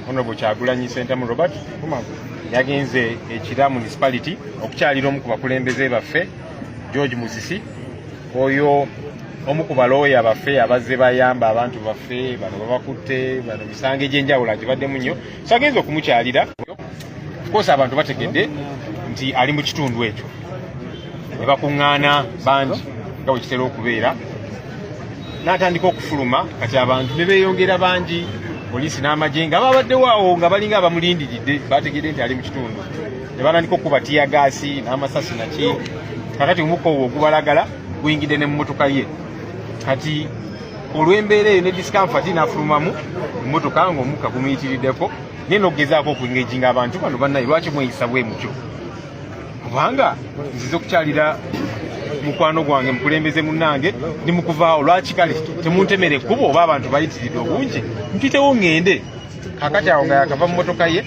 Honorable Kyagulanyi Sentamu Robert yagenze ekira municipality okukyalira omu ku bakulembeze baffe George Musisi oyo omu ku balooya baffe abazze bayamba abantu baffe bano babakutte bano misango egy'enjawulo agibaddemu nnyo so agenze okumukyalira koosa abantu bategedde nti ali mu kitundu ekyo ne bakuŋŋaana bangi nga bwe kitera okubeera n'atandika okufuluma kati abantu ne beeyongera bangi poliisi n'amagye nga babaddewo awo nga balinga abamulindiridde baategedde nti ali mu kitundu ne batandika okukuba tiyagaasi n'amasasi naki kakati omukka obwo ogubalagala guyingidde ne mu mmotoka ye kati olw'embeera eyo ne discomfati n'afulumamu emmotoka ng'omukka gumuyitiriddeko naye n'okugezaako okuengejinga abantu bano bannaye lwaki mweyisa bwe mutyo kubanga nzize okukyalira mukwano gwange mukulembeze munange ndi mukuvaawo lwaki kale temuntemera ekkubo oba abantu bayitiridde obungi mpitewo ŋŋende kakati awo nga yakava mu motoka ye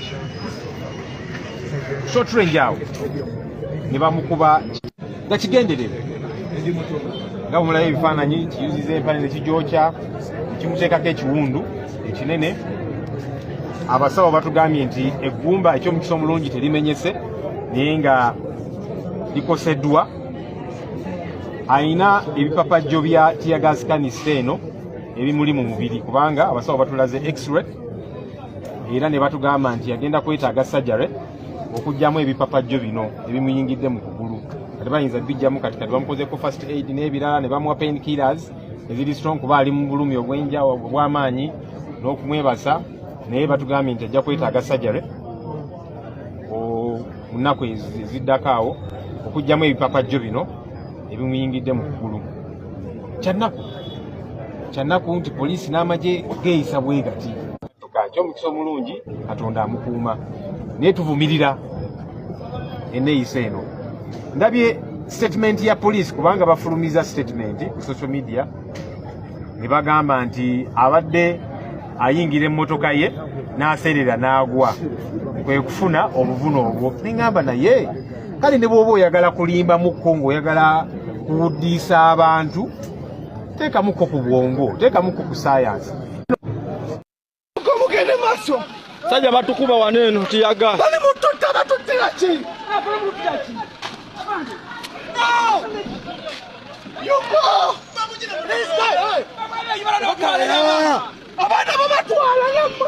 shotrange awo ne bamukuba nga kigenderere nga bumulayo ebifaananyi kiyuziza empale ne kigyokya kimuteekako ekiwundu ekinene abasawo batugambye nti eggumba ekyomukisa omulungi terimenyese naye nga likoseddwa alina ebipapajjo bya tiyagazikanisa eno ebimuli mu mubiri kubanga abasawo batulaze x-ray era ne batugamba nti yagenda kwetaaga sajare okugyamu ebipapajjo bino ebimuyingidde mu kugulu kati bayinza bijjamu kati kati bamukozeko first aid n'ebirala ne bamuwa pain killers eziri strong kuba ali mu bulumi obwenja obw'amaanyi n'okumwebaza naye batugambye nti ajja kwetaaga sajare mu nnaku eziddako awo okugyamu ebipapajjo bino ebimuyingidde mu kugulu kyannaku kyannaku nti poliisi n'amagye geeyisa bwegati kakyo omukisa omulungi katonda amukuuma naye tuvumirira eneyisa eno ndabye statement ya police kubanga bafulumiza statement ku social media ne bagamba nti abadde ayingira emmotoka ye n'aseerera n'agwa kwe kufuna obuvune obwo neŋamba naye kale ne bwoba oyagala kulimbamuko ng'oyagala kuwuddiisa abantu teekamuko ku bwongo teekamuko ku sayansi mugende maaso sajja batukuba wano eno tiyaga bali mututta batuttira ki abaana bo batwala namwe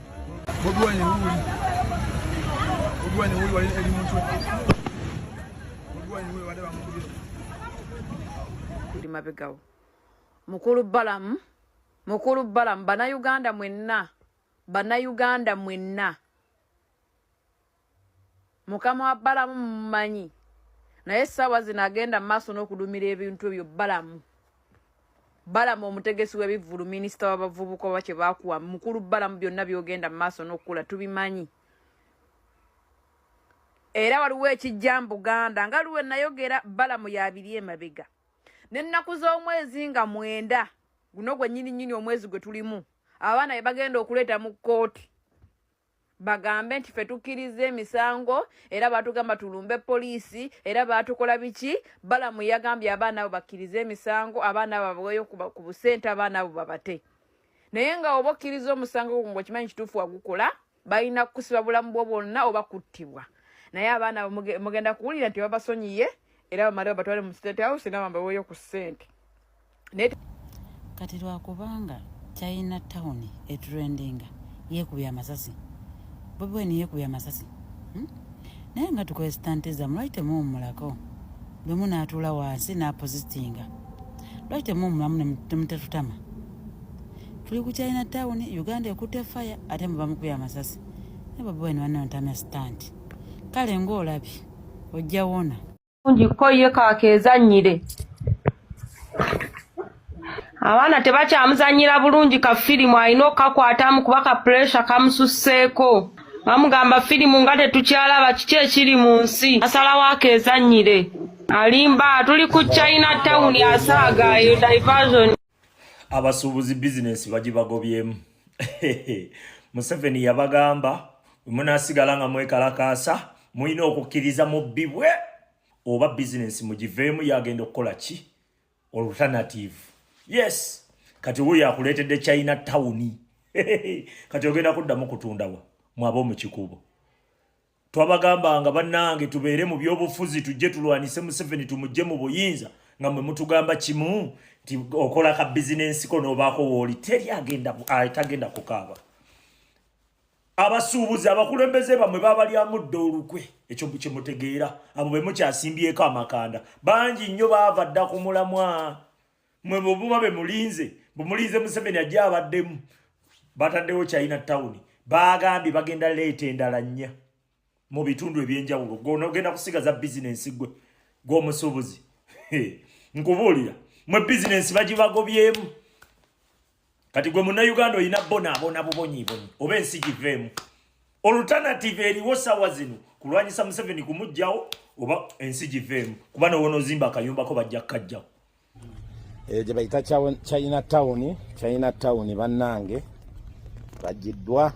buli mabegawo mukulu balamu mukulu balamu banayuganda mwenna banayuganda mwenna mukama wa balamu mumanyi naye essaawa zino agenda mu maaso n'okudumira ebintu ebyo balamu balamu omutegesi w'ebivvulu minisita w'abavubuka oba kye baakuwa mukulu balamu byonna byogenda mu maaso n'okukula tubimanyi era waliwo ekijja mu buganda nga luwe nayogera balamu yabiri emabega n'ennaku z'omwezi nga mwenda guno gwennyini nnyini omwezi gwe tulimu abaana be bagenda okuleeta mu kkooti bagambe nti fe tukkirizza emisango era baatugamba tulumbe poliisi era baatukola biki balamu yagambye abaana abo bakkirize emisango abaana abo baweeyo ku busente abaana abo babate naye nga oba okkiriza omusango gwo ngaokimanyi kituufu wagukola balina kukusiba bulamu bwo bwonna oba kuttibwa naye abaana abo mugenda kuwulira nti babasonyiye era bamale babatwale mu state house era bambaweeyo ku ssente kati lwakubanga china town etrendinga yekubya amasasi bobiwine yekubya amasasi hmm? naye nga tukwesitanteza mulwaki temuwumulako bwemu natuula wansi napositinga lwaki temuwumulamu nemutetutama tuli ku china town uganda ekutte fire ate mubamukubya amasasi naye bobiwine wanontamya sitanti kale ngaolabye ojja wona bulungi ko ye kakeezannyire abaana tebakyamuzannyira bulungi ka firimu alina okukakwatamu kuba ka puresha kamususseeko bamugamba firimu nga tetukyalaba kiki ekiri mu nsi asalawo akeezannyire alimba tuli ku china tawuni asaaga eyo diversion abasuubuzi bizinensi bagibagobyemu museveni yabagamba munasigala nga mwekalakaasa mulina okukkiriza mu bibwe oba bizinensi mugiveemu yagenda okukola ki alternative yes kati wo yakuleetedde china tawuni kati ogenda kuddamu kutundawa mwaba omukikubo twabagambanga bannange tubeere mu byobufuzi tujje tulwanise museveni tumujje mu buyinza nga mwe mutugamba kimu nti okola ka bizinensi ko noobaako wooli teri agenda atagenda kukaaba abasuubuzi abakulembeze bamwe babalyamudde olukwe ekyo kyemutegeera abo be mukyasimbyeko amakanda bangi nnyo baava dda ku mulamwa mwe bwemuba bemulinze bumulinze museveni ajja abaddemu bataddewo china town baagambye bagenda leeta endala nnya mu bitundu ebyenjawulo gona ogenda kusigaza bizinensi gwe gwomusuubuzi nkubuulira mwe bizinensi bagibagobyemu kati gwe munnayuganda olina bonaabona bubonyibonyi oba ensi giveemu olutanative eriwo sawa zino kulwanyisa museveni kumugjawo oba ensi giveemu kuba nowona ozimba akayumbako bajja kukajjawo eyo gye bayita china town china town bannange bagiddwa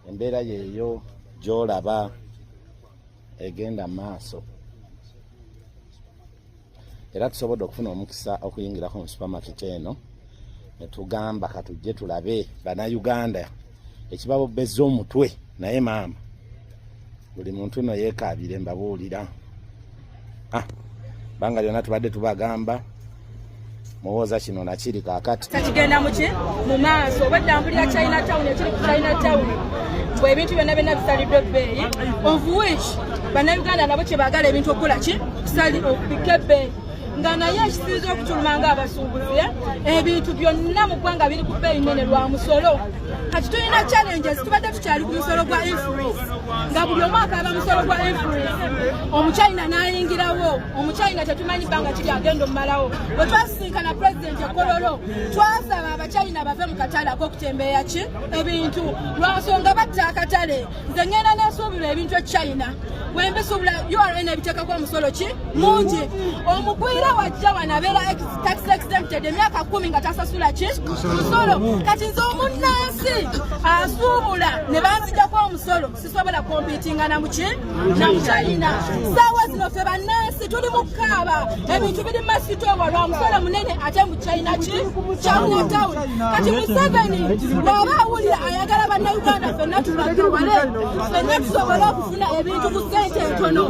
embeera yeeyo gyolaba egenda maaso era tusobodde okufuna omukisa okuyingirako mu supermarket eno netugamba katujje tulabe banauganda ekibabobezza omutwe naye maama buli muntu no yekabire mbabuulira ah, banga lyona tubadde tubagamba muwooza kino nakiri kakati kigenda muki mu maaso obadda mpulira china town ekiri ku china town bwe ebintu byonna byonna bisaliddwa ebbeeyi of which bannayuganda nabo kyebaagala ebintu okukola ki kusali okupika ebbeeyi nga naye ekisinza okutuluma nga abasuubuzi eh? ebintu byonna mu ggwanga biri ku bbeeyi nene lwa musolo kati tulina challenges tubadde tukyali ku musolo gwa influence nga buli omwaka aba musolo gwa influence omuchina n'ayingirawo omukyayina tetumanyi bbanga kiri agenda omumalawo bwe twasisinkana pulezidenti ekololo twasaba abakyayina bave mu katale akokutembeeya ki ebintu lwansonga batta akatale nze ngenda nesuubirwa ebintu ekyayina wembisuubula ura nebiteekako omusolo ki mungi omugwira wajja wano abeera tax exempted emyaka kumi nga tasasula ki musolo kati nze omunnansi asuubula ne banzijako omusolo sobola kompitinga na muki na mukyalina saawa zino fe bannansi tuli mu kukaaba ebintu biri masitowa lwa musolo munene ate mu china ki kyawuna town kati museveni bw'aba awulira ayagala bannauganda fenna tubagawale fenna tusobole okufuna ebintu ku sente entono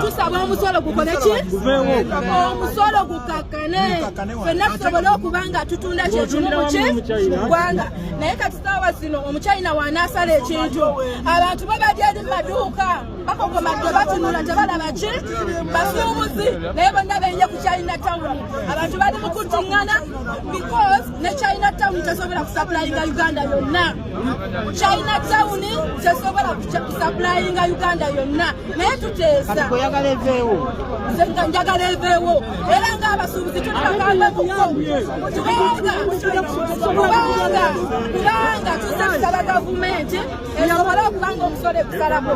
tusaba omusolo gukole ki omusolo gukakkane fenna tusobole okuba nga tutunda kyekimu muki gwanga naye kati saawa zino omukyayina wanaasala ekintu abantu babadya eri mumaduuka bakokomadde batunula tebalaba ki basuubuzi naye bonna benye ku china town abantu bali mukutingana because ne china town tesobola kusapulayinga uganda yonna china town tesobola kusapulayinga uganda yonna naye tuteesa njagala eveewo era ng'abasuubuzi tuli bagambe kuko kubanga kubanga kubanga tuzze kusaba gavumenti esobole okuba ng'omusolo egusalako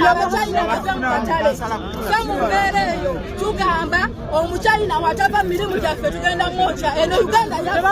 abachina bave mu katale fe mu mbeera eyo tugamba omuchina watava mu mirimu gyaffe tugenda mwokya eno uganda yaffe